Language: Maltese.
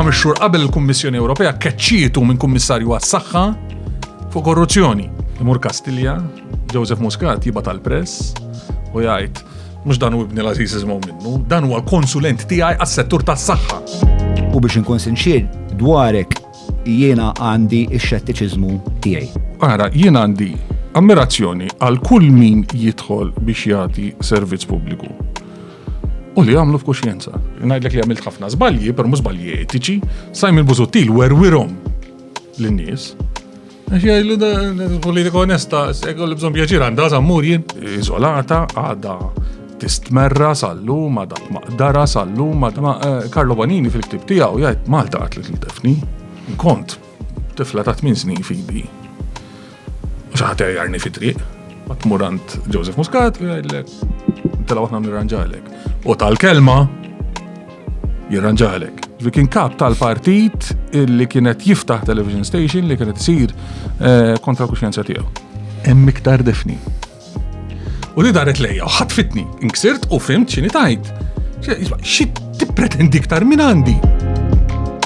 ħames xhur qabel il-Kummissjoni Ewropea keċċietu minn Kummissarju għas-Saħħa fuq korruzzjoni. Imur Kastilja, Joseph Muscat jibgħat tal-press u jgħid mhux dan u ibni l-Aziz iżmgħu minnu, dan huwa l-konsulent tiegħi għas-settur tas-saħħa. U biex inkun sinċier dwarek Jiena għandi x-xettiċiżmu tiegħi. Ara, jien għandi ammirazzjoni għal kull min jidħol biex jagħti servizz pubbliku. U li għamlu f'kuxjenza. Ngħidlek li għamilt ħafna żbalji, per mhux żbalji etiċi, Simon Busuttil werwirhom lin-nies. Għax jgħidlu da politika onesta, ekku li bżon pjaċir għanda zammur jien. Izolata, għada tistmerra sal-lum, għada maqdara sal-lum, għada eh, Karlo Banini fil-ktib tijaw jgħid Malta għatlet l-defni. Kont, tifla ta' 8 snin fidi. Xaħat jarni fit-triq, għatmurant Joseph Muscat, jgħidlek, tela għatna nirranġalek. U tal-kelma, jirranġalek. Ġvi kien kap tal-partit li kienet jiftaħ television station li kienet sir eh, kontra kuxjenza tiegħu. Hemm iktar defni. U li daret lejja, u ħatfitni, inksirt u fimt xini tajt. Xi tippretendi iktar minn għandi.